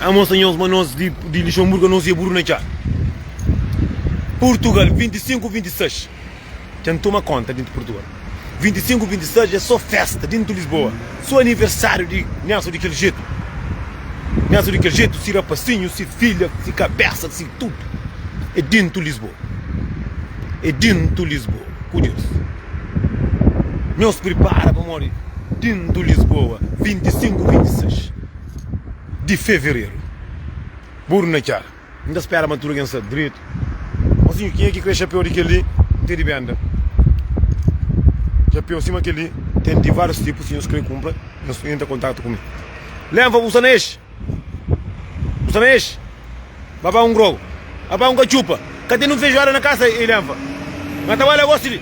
Amos anhos ma nos di di Luxemburgo nos ia buru na txá Purtugal 25 26 dja n toma konta di Purtugal 25 26 é só festa di Lisboa só aniversário di Nelson di kel jetu Nelson di kel jetu si rapasinhu si filha si kabésa si tudu é di Lisboa é di Lisboa ku Deus nhos pripara pamodi di Lisboa 25 26. di fevereru. Buru na txá. N ta spera ma tudu algen sta dretu. Mosinhu, kenha ki kre xapeu di kel-li? N ten di benda xapeu sima kel-li. Ten di várius tipu. Si nhos kre kunpra, nhos intra kontaktu ku mi. Lenfa, bu sta na es? Bu sta na es? Baba un grou, baba un katxupa Ka ten un fejuada na kasa i lenfa Na tawala gosi di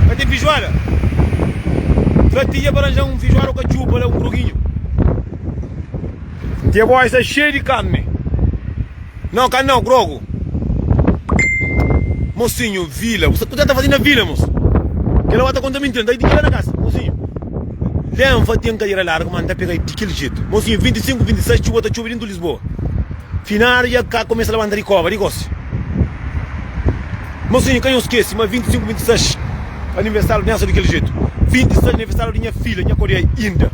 Ka ten fijuada Tra tinha pa ranjan un fijuada o katxupa la un groginhu N tinha pa osta xei di karni Nau ka nau grogu Mosinhu vila Bu sa kuza ta fazi na vila mos Kela oata konta mintira N ta idiki la na kasa Mosinhu lenfa ten kadera largu ma N ta pega-i di kel jetu Mosinhu vinti i sinku, vinti i sais Txuba ta txubi di N ta. Bo. Finadu dja ka kumesa labanta di kova, di gosi. Má sonha ka nhos skese ma 25, 26 aniversáriu di nha so di kel jetu. 26 aniversáriu di nha filha nha kodea inda.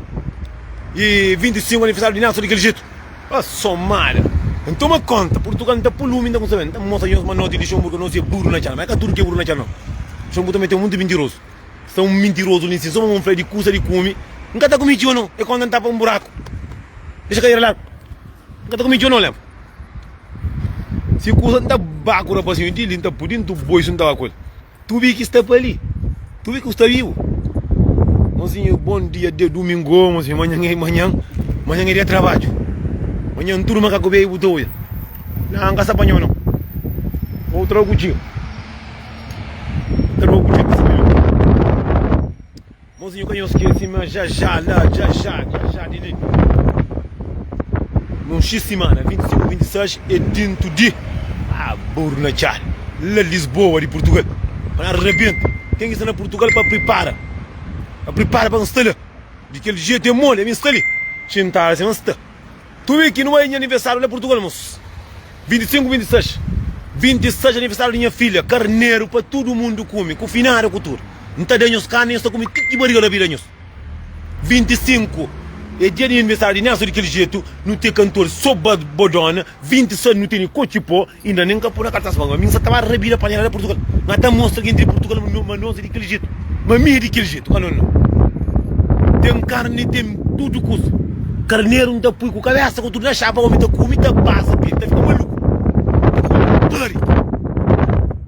I 25 aniversáriu di nha so di kel jetu. Ó somada! N toma kónta, Purtugal N ta pô lumi, N ta kumsa ben. N ta mostra nhos ma noti di Xonbur ka nos é buru na txan. Má é ka tudu ki é buru na txan nau. Xonbur tanbê ten monti mintirozu. Sta un mintirozu li si sô pamô fla di kusa di kume N ka ta kume txeu nô e konta N ta pa un buraku Dexa kadera largu N ka ta kume txeu nô leva Si kusa N ta ba ku rapazinhu di li N ta pudi N tu boi si N ta ba ku el Tubi ki sta pa li Tubi ku sta bibu Mozinhu bon dia de dumingu Ô mozinhu manhan e manhan Manhan e dia trabadju Manhan N turma ka ku bebu ta oia Naa N ka sta pa nho nô Ô tragu txeu. Tá bom ku djintis minhu Monzinho ka nhos kê sima Jajá la Jajá, Jajá di li Num xis simana, 25, 26 É dintu di Ah, buru na txá La Lisboa di Purtugal Pa na rabenta Ken ki sta na Purtugal pa pripara Pa pripara pa N sta la Di kel jetu é moli ami N sta li Xintadu sima N sta Tui ki nu bai nha aniversariu la Portugal mos 25 26 26 aniversariu di nha filha karneru pa tudu mundu kumi ku finada ku tudu N ta da nhos karni nhos ta kumi ti ki bariga labida nhos 25 e dia di nha aniversariu di Nelson di kel jetu nu te kantor so ba bodona 26 nu teni koci po. Inda nen ka pô na kartas ma mi n sa ta ba rabida pa nha da Purtugal. N ka ta mostra gentis di Purtugal ma nos é di kel jetu. Ma mi é di kel jetu ka? Nau, nau. Ten karni, ten tudu kuza. Karneru n ta pui ku kabésa ku tudu na xapa, ómi ta kume, ta pasa pa el, ta fika maluku. N ta fika ku dóri.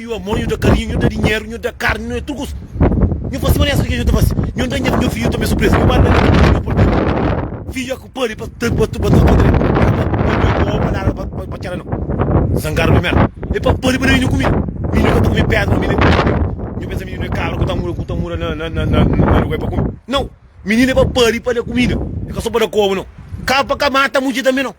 Nhu amor, nhu da karinhu, nhu da dinheru, nhu da karni, nhu é tudu kuz. Nhu fasi manera sodi ke nhu ta fasi. Nhu da nha nhu fiju tanbe surpresa. Nhu bali manera ki nhu pode. Fiju aku pali pa ta pa ta kontra el. Nhu ka ta oba palavra pa pa pa txela no. Zangadu pa merda. El pa pali pa da mininu kumida. Mininu ka ta kume pedra no mininu. Nhu pensa mininu é kabra ku ta mura ku ta mura na na na na lugar pa kume. Nau! Mininu é pa pali pa da kumida. É ka so pa da koba no. Kaba pa ka mata mudjer tanbe no.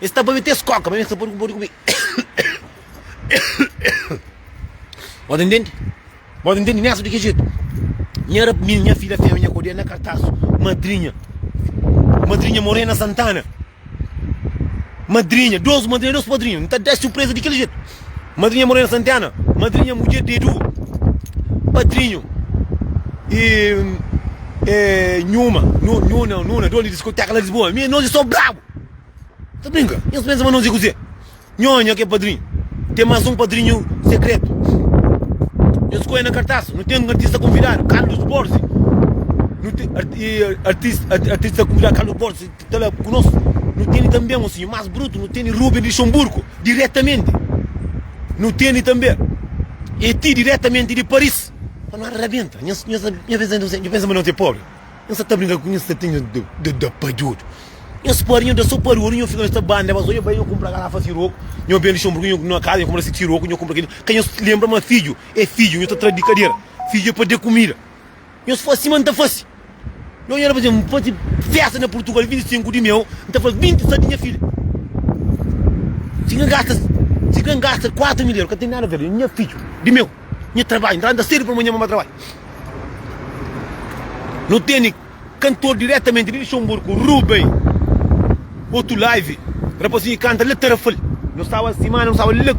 Es ta babe tes koka, ma mi N sta pode ku bode ku mi. Bo ta ntende? Bo ta ntende nesa di ki jetu? Nha rapnin, nha filha femia, nha kodia na kartasu, madrinha, madrinha more na Santana, madrinha, dos madrinha, dos padrinhu, N ta da-s surpresa di kel jetu. Madrinha more na Santana, madrinha mudjer di Edu, padrinhu e e nhuma, nhu, nhuna, nuna, dona di diskoteka na Lisboa. Mi, nos e so brabu! Ta brinka? Nhos pensa ma nos é kuzê? Nho, nho ki é padrinhu, ten más un padrinhu sekretu. Nhos skodje na kartas, nu ten artista konvidadu, Carlos Borzi. Nu ten artista konvidadu, Carlos Borzi, ta la ku nos. Nu tene tanbe un sinhu más brutu, nu tene Ruben di Xonburku, diretamenti. Nu tene tanbe Eti, diretamenti di Paris. Pa nu rabenta. Nho pensa ma nos é pobri? N sa ta brinka ku nhas tatinha da padjodu. Nhas parinha da so padjodu, nho fika nhos ta banda ma so. Nho bai nho kunpra garafa siroku, nho bende xonbru ku nho na kaza, nho kunpra si siroku, nho kunpra kil. Ka nhos lenbra ma fidju e fidju, nho ta tra di kadera. Fidju e pa de kumida. Nhos fasi sima N ta fasi. Nho nha da pa N fasi festa na Purtugal 25 di meu, N ta fla 27 di nha fidja. Si ka N gasta, si ka N gasta 4 mil eru ka ten nada a ver, nha fidju di meu. Nha trabadju N ta anda sédu pamodi nha mama trabadja Nu tene kantor diretamenti di Luxemburgo, Rubem Otu Live Rapazinhu ki kanta la Tarrafal Nu staba simana nu staba la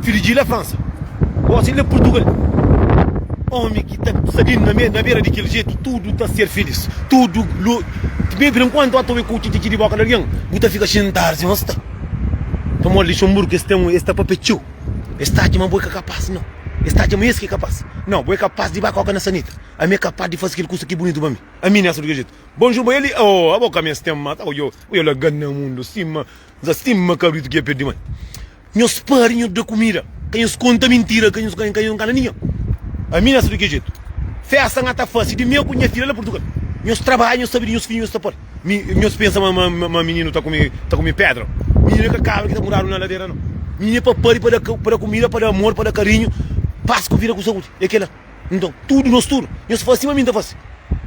Fidji la Fransa Gosi la Purtugal Omi ki ta sadin na bera di kel jetu Tudu ta ser filís Tudu Mê bira nkuantu a ta obi ku txitxi di boka di algen Bu ta fika xintadu si N sta Pamodi Luxemburgo es ten un es ta papia txeu. Es ta atxa ma bo é ka kapas. Nau. Es ta atxa ma es ki é kapas. Nau. Bo é kapas di ba koka na sanita. Ami é kapas di fase kel kusa ki bunitu pa mi. Ami nesta di kel jetu. Bonjur bo é li? Aôô, abo ka mi es ten mata. Oiô, oiô la gan na mundu sima nza, sima kabritu ki dja perde mai. Nhos pari, nhos da kumida. Ka nhos konta mintira, ka nhos ka nhos ngana ninhan. Ami nesta di kel jetu. Festa N ata fase di mi ku nha fidja la Purtugal. Nhos trabadja, nhos sabe di nhos fidju nhos ta pari. Mi nhos pensa ma ma mininu ta kume ta kume pedra? Mininu é ka kabra ki ta mudadu na ladera no. Mininu é papadi pa da pa da kumida, pa da amor, pa da karinhu, pas ku vida ku saúdi. É kela. Nton, tudu nos tudu, nhos faze sima mi N ta faze.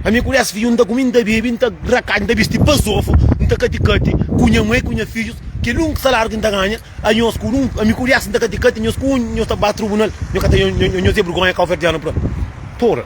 Ami ku dés fidju, N ta kume, N ta bebe, N ta rakati, N ta bisti bazofu, N ta kati-kati ku nha mai ku nha fidjus. Kel úniku salariu ki N ta ganha, a nhos ku un, ami ku dés N ta kati-kati, nhos ku un nhos ta ba trubunal. Nhos ka ta nhos nhos nhos nhos nhos é bergonha kauverdianu pra. Pora.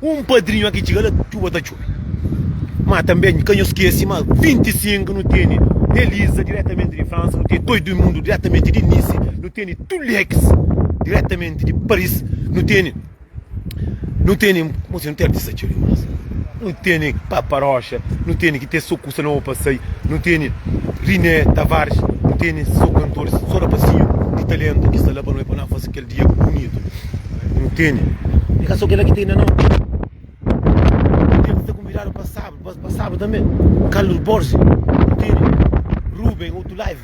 Un padrinhu a ki txiga la txuba ta txobe. Má tanbê N ka nhos skese ma 25 nu tene Nelisa diretamenti di Fransa, nu tene Toi Duimundo diretamenti di Nisi, nu tene Tulex diretamenti di Paris, nu tene, nu tene, koma si nu ten artista txeu dimás. Nu tene Papa Rocha, nu tene ki ten so kusa noba pa sai, nu tene Riné Tavares, nu tene so kantoris, so rapazinhu di talentu ki sta la pa noi pa nós fase kel. Dia ku bunitu n tene. E ka so kela ki tene non. N tene ta konvidadu pa sabu pa sabu tanbe. Carlos Borges n tene. Ruben otu live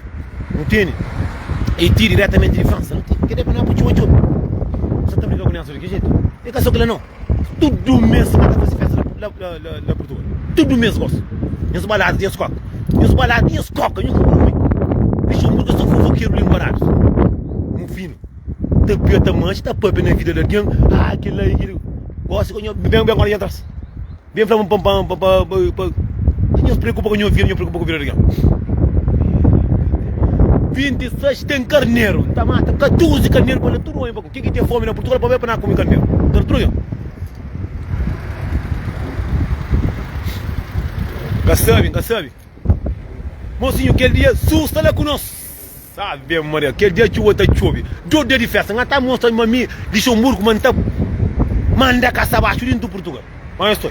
n tene. E ti diretamente di Fransa n tene. Kede pa na bu txoba txoba. Sa ta briga ku nel so di ki jetu. E ka so kela non. Tudu mês na ta faze festa la la la la Portugal. Tudu mês gosi. Nhos balada, nhos koka. Nhos balada, nhos koka, nhos fufufi. Luxemburgo é sô fofokeru linguaradu. Mu finu. Ta pia, ta manxa, ta pâpia na vida di algen. Ah, kel la é kel. Gosi ka nho. Ben, ben, ora nhos entras. Bem fla-m pa pa pa pa Ka nhos preokupa ku nhos vida, nhos preokupa ku vida di ken? 26 ten karneru, ta mata 14 karneru pa le tudu bai pa ku. Ken ki ten fomi na Purtugal pa bai pa na kumi karneru. Ka ta tudu ken? Ka sabi, ka sabi. Mozinho kel dia Zus sta la ku nos Ave Maria kel dia txuba ta txobi Dot dia di festa N ta mostra ma mi Lixonburgu ma N ta manda kasa baxu di ntu Purtugal Onde es sta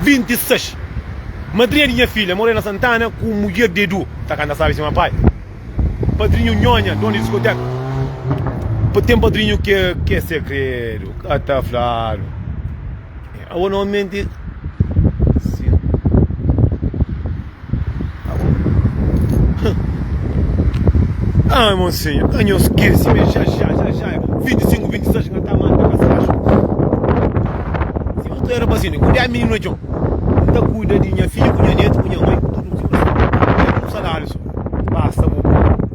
26 Madrinha di nha filha Morena Santana ku mudjer di Edu ta kanta Sabe sima pai Padrinhu Nhonha donu di diskoteka Pa ten padrinhu ke ke segredu ka ta fladu. Awa normalmenti sin Ai mon senha ka nhos skese me ja ja ja ja 25 26 nha ta manda pa se kaxu si bu ta era pa si ne kuandu e mininu na txon n ta kuida di nha fidju ku nha netu ku nha mai ku tudu un ti basta bu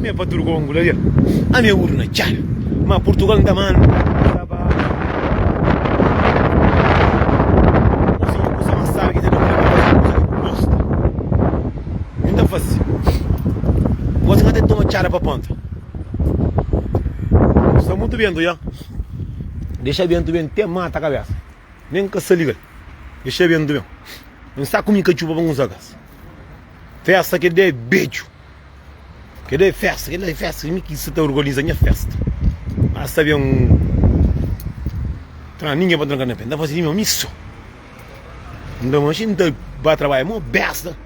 Mé pa tudu kongu la del a mé urna txal ma purtugal n ta manda sa ba kuzinha kusa ma sabe ki ta da modi pa faze kusa ki bu gosta n ta faze gosi n ka ta toma txada pa ponta sta mutu bentu ya dexa bentu ben te mata kabesa nen ka sa ligal dexa bentu ben n sa kumi katxupa pa n uza kas festa ki da é bedju. Keda é festa, keda é festa, mi ki sa ta organiza nha festa. Mas ta ben un tran, ninguém pa tranca na pé, ta fase di mim ami so. Nda ma xin ta ba trabalha mo besta.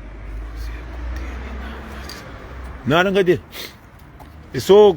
Nada nka te. É so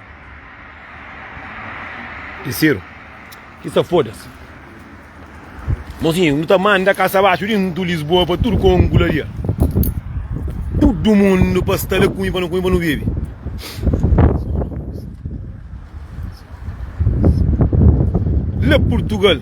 Di Siru, ki sta foda-s. Mozinhu, nu ta manda kasa baxu dintu Lisboa pa tudu konku la dia. Tudu mundu pa sta la kunhu pa nu kunhu pa nu bebe. La Purtugal.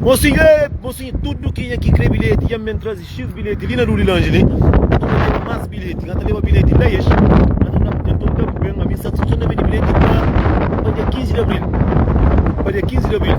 Mosinhu, ê, mosinhu, tudu kenha ki kre bilheti dja-m ben traze xis bilheti li na du di lanji li. N ta leba más bilheti, n ata leba bilheti la es. N ata da-bu, nton N da-bu ben ami satisfason na bende bilheti pa, pa dia 15 di abril, pa dia 15 di abril.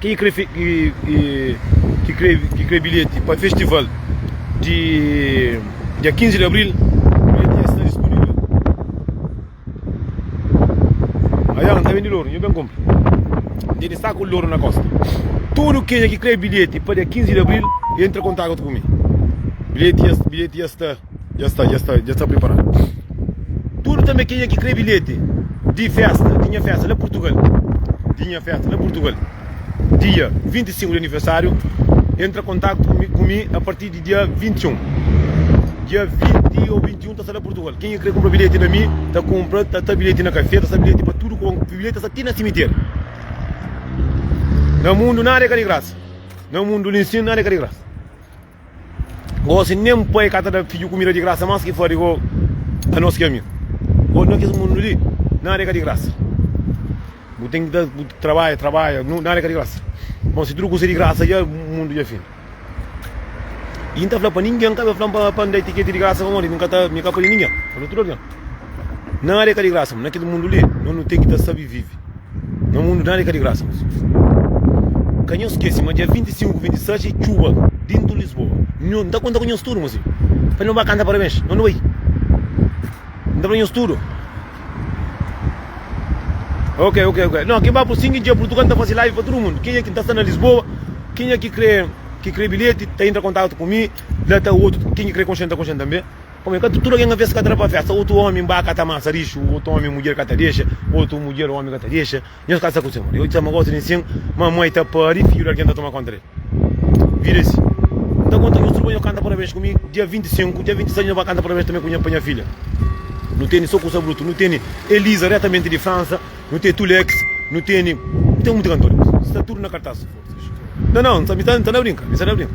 Ken ki krê bilheti pa festival di dia 15 di abril, bilheti dja sta dispunivel. Ayan, N ta bendi loru, nhu ben kunpra. N ten di saku di loru na kosta. Tudu kenha ki krê bilheti pa dia 15 di abril, entra kontatu ku mi. Bilheti dja sta. Dja sta, dja sta, dja sta priparadu tudu tanbe kenha ki kre bilheti di festa di nha festa la purtugal di nha festa la purtugal dia 25 di anivesariu entra kontaktu ku mi ku mi a parti di dia 21 dia 20 ou 21 ta sta la purtugal kenha ki kre kunpra bilheti na mi ta kunpra ta sta bilheti na kafé ta sta bilheti pa tudu kon bilheti ta sta ti na simiteri na mundu nada e ka di grasa na mundu li nsin nada e ka di grasa. Gosi nen un pai ka ta da fidju kumida di grasa, mas ki fla di bo anos ki ami. Gosi na kes mundu li nada e ka di grasa, bu ten ki ta trabadja, trabadja, nada e ka di grasa. Bon, si tudu kusa e di grasa dja, mundu dja fin. I N ta fla pa ningen, N ka ben fla-m pa N da-i tiketi di grasa, pamodi mi ka ta, mi ka padi ningen. N fla tudu algen, nada e ka di grasa, ma na kel mundu li no ten ki ta sabi vivi. Na mundu nada é ka di grasa mos amigus Ka nhos skese ma dia 25, 26 é txuba dintu Lisboa Nho N ta konta ku nhos tudu mos amigus Pa nu ba kanta parabens Nho nu bai N ta fla nhos tudu Ok ok ok Nho ki ba ku sinki dja prutu ka N ta fase live pa tudu mundu Kenha ki ta sta na Lisboa Kenha ki kre ki kre bilheti ta intra kontaktu ku mi La ta otu Kenha ki kre konxe N ta konxe-m tanbe. Omi, ka tudu algen avês ka ta da pa fésta. Otu omi mba ka ta mansa lixu, otu omi mudjer ka ta dexa, otu mudjer omi ka ta dexa. Nhos ka sta ku Senhor. Eu txama gosi di nsin ma moi ta pari fidju di algen ta toma konta del. Vida é si. N ta konta nhos tudu pa nhos kanta parabens ku mi dia 25, dia 26 nhos ba kanta parabens tanbe ku nha pa nha filha. Nu teni so kusa brutu, nu teni Elisa retamenti di Fransa, nu ten Tulex, nu teni, nu ten munti kantor, sta tudu na kartas. Nan nan, mi sta na brinka, mi sta na brinka.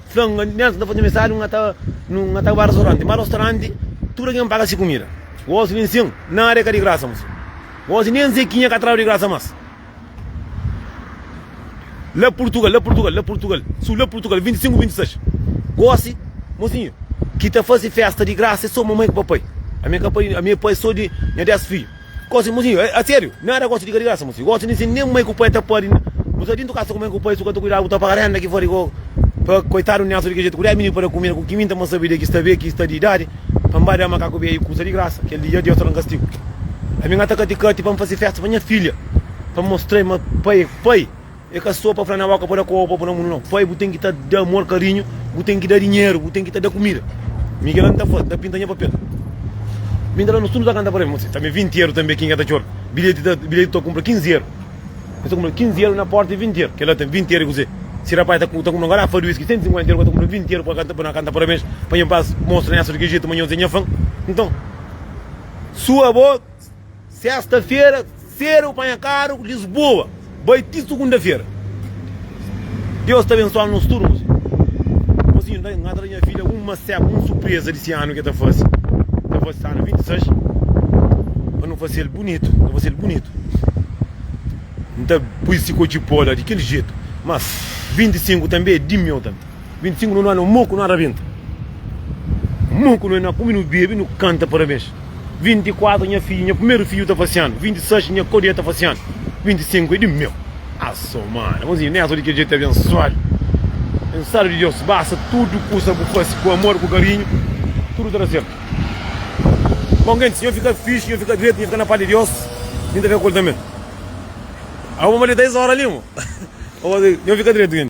Fla-m, N ta ben, N ta faze mensadu, N ta N ta ba rostoranti Má rostoranti, tudu algen paga se kumida Gosi ben sin, nada é ka di grasa más Gosi nen Zekinha ka tradu di grasa más La Purtugal, la Purtugal, la Purtugal Su, la Purtugal, 25, 26 Gosi, mozinhu, ki ta faze fésta di grasa é sô mamai ku papai Ami é ka pai, ami é pai sô di nha 10 fidju. Gosi mozinho, é sériu? Nada gosi di ka di grasa mozinho. Gosi di sin nen mai ku pai ta padi na nu sa dintu kasa ku mai ku pai su ka ta kuidadu ku ta paga renda ki fori ko pa koitadu niasu di ki jetu ku dez mini pa da kumida ku ki minta ma sabi de ki sta be ki sta di idadi pa nba da makaku be i kusa di grasa kel dia Deus ta dan kastigu. Ami nga ta kati kati pa nfasi festa pa nha filha pa nmostrei ma pai é pai. E ka so pa fla na boka pa da koba pa bu na mun no foi bu ten ki ta da amor karinhu bu ten ki da dinheru bu ten ki ta da kumida mi kila nta faz nta pinta nha papel mi nta la nos tudu ta kanta pa rei tambe vinti eru tambe ki nka ta txor bilheti ta bilheti ta kunpra kinzi eru mi ta kunpra kinzi eru na porta e vinti eru kila ta vinti eru e kuzê si rapai ta ta kunpra un garafa di whisky senti sinkuenta eru ka ta kunpra vinti eru pa kanta pa na kanta parabens pa nha pas mostra nha sodi ki jetu ma nhos e nha fan nton sua bo. Sesta-fera sedu bu panha karu ku Lisboa bai ti Sugunda-fera. Deus ta abensoanu nos tudu mozinhu. Mozinhu nda N ka ta da nha fidja un maseba, un surpresa di si anu ki el ta fase, el ta fase anu 26, pa nu fase el bunitu, N ta fase el bunitu. N ta pui si kotxi poda di kel jetu, mas 25 tanbe é di-m eu tanbe. 25 nu nana moku nu arabenta moku nu na kumi nu bebe nu kanta parabens 24 nha fidju nha primeru fidju ta fasianu 26 nha kodia ta fasianu 25 é di meu asomada manzinho nessa di kel dia ti abensuadu abensuadu di Deus basta tudu kusa bu fasi ku amor ku karinhu tudu ta da sertu bom gentis nho fika fixi nho fika dretu nho fika na paz di Deus nho ta fika ku el tanbe awo modi 10 ora li mo nho fika dretu gentis.